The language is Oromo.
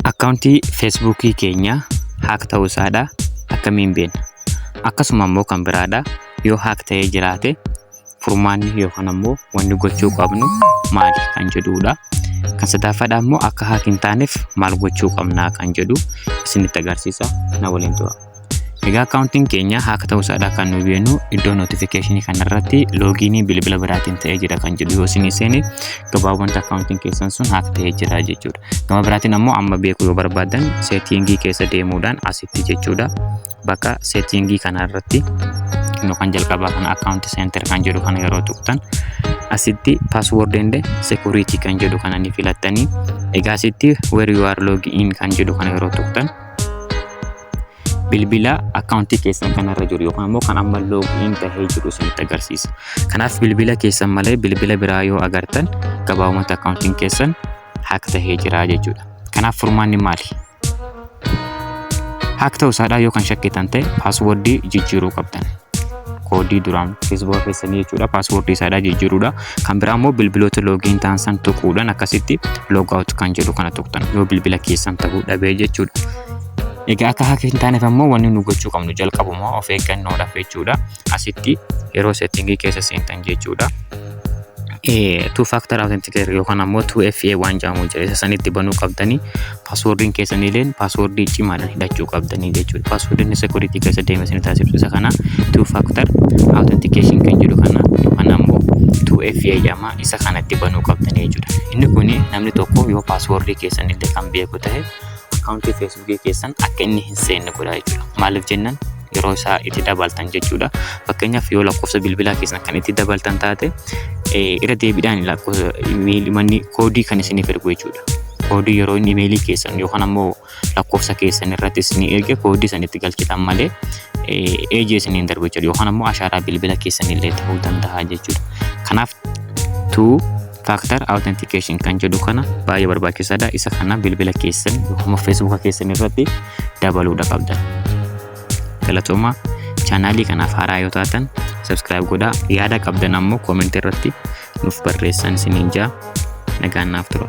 Akkaawuntii Feesbuukii keenya haak ta'uu isaadha akkamiin beekna? Akkasuma immoo kan biraadha yoo haak ta'ee jiraate furmaanni yookaan ammoo wanni gochuu qabnu maali kan jedhudha. Kan sadaffaadha immoo akka haak hin taaneef maal gochuu qabna kan jedhu isinitti agarsiisa na waliin tura. Egaa akkaawuntiin keenya haaka ta'uu isaadhaa kan nu beenu iddoo notifikashinii kanarratti loogiinii bilbila biraatiin ta'ee jira kan jedhu yoo isin seene gabaabumatti akkaawuntiin keessan sun haaka ta'ee jira jechuudha. Gama biraatiin ammoo amma beekuu yoo barbaadan seetiingii keessa deemuudhaan asitti jechuudha. Bakka seetiingii kanarratti nu kan jalqabaa kana akkaawunti seentar kan jedhu kana yeroo tuqtan asitti password and security kan jedhu kana ni filattanii egaa asitti where you are log in kan jedhu kana yeroo tuqtan bilbila akkaawuntii keessan kanarra jiru yookaan immoo kan amma loogiin tahee jiru isinitti agarsiisa. Kanaaf bilbila keessan malee bilbila biraa yoo agartan gabaabumatti akkaawuntiin keessan haak tahee jira jechuudha. Kanaaf furmaanni maali? Haak ta'uu isaadhaa yoo kan shakkitan ta'e paaswordii jijjiiruu qabdan. koodii duraan feesbuuka keessanii jechuudha paaswordii isaadhaa jijjiiruudha kan biraa immoo bilbiloota loogiin ta'an san tuquudhaan akkasitti loogaawut kan jedhu kana tuqtan yoo bilbila keessan ta'uu dhabee jechuudha. Egaa akka hack hin taaneef ammoo wanni nu gochuu qabnu jalqabuma of eeggannoodhaaf jechuudha. Asitti yeroo settingii keessa seentan jechuudha. Two factor authenticator yookaan ammoo 2FA waan jedhamu jira. Isa sanitti banuu qabdanii paaswoordiin keessaniileen paaswoordii cimaadhaan hidhachuu qabdanii jechuudha. Paaswoordiin security keessa deeme isin taasiftu isa kana two factor authentication kan jedhu kana yookaan ammoo 2FA jedhama isa kanatti banuu qabdanii jechuudha. Inni kun namni tokko yoo paaswoordii keessanillee kan beeku ta'e akkaawuntii feesbuukii keessan akka inni hin seenne godhaa jechuudha. Maaliif jennaan yeroo isaa itti dabaltan jechuudha. Fakkeenyaaf yoo lakkoofsa bilbilaa keessan kan itti dabaltan taate irra deebiidhaan lakkoofsa manni koodii kan isiniif ergu jechuudha. Koodii yeroo inni imeelii keessan yookaan ammoo lakkoofsa keessan irratti isinii erge koodii san itti galchitan malee eejii isiniin darbu jechuudha. Yookaan ammoo ashaaraa bilbila keessan illee ta'uu danda'a jechuudha. Kanaaf tuu Factor Authentication kan jedhu kana baay'ee barbaachisaadha. Isa kana bilbila keessan yookaan Facebook keessan irratti dabaluudha qabda. Galatooma chaanaalii kanaaf haaraa yoo taatan subscribe godhaa. Yaada qabdan ammoo comment irratti nuuf barreessaa isiniin jaa nagaan naaf tura.